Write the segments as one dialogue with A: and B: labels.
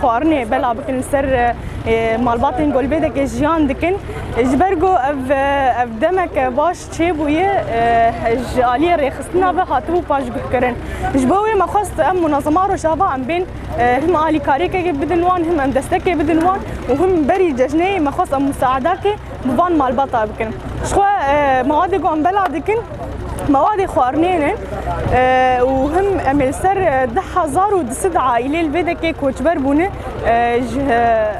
A: Xwarinê bela bikin li ser malbatên golbêdekê jiyan dikin. Ji ber ku ev ev demeke baş çêbûye ji aliyê rêxistina ve hatibû paşgirkirin. Ji bo wê me xwest em munazema Rojava em bên him alîkariyekekê bidin wan him em destekê bidin wan û him berî cejnê me xwest em musaedakê bi van malbata bikin. Jixwe mawadê ku em bela dikin Mewadê xwarinê ne û him em ê li ser di hezar û di sid aîlê li vê dekê koçber bûne ji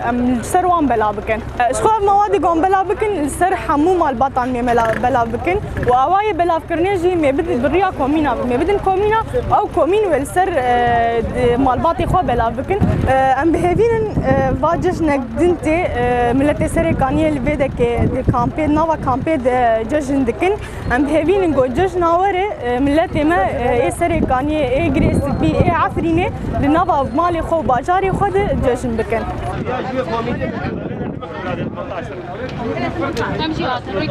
A: em li ser wan bela bikin. Ji xwe ev mewadê gan bela bikin li ser hemû malbatan mê bela bikin û ewa yê belavkirinê jî mê bidin bi riya komîna mê bidin komîna ew komîn wê li ser malbatê xwe bela bikin. Em bihêvînin va cejnek Din tê miletê serê kaniyê li vê dekê di kampê nava kampê de cejn dikin. Em bihevînin ku cejna were miletê me ê serê kaniyê ê girê spî ê Efrînê di nava malê xwe û bajarê xwe de cejn bikin. Em jî hatin.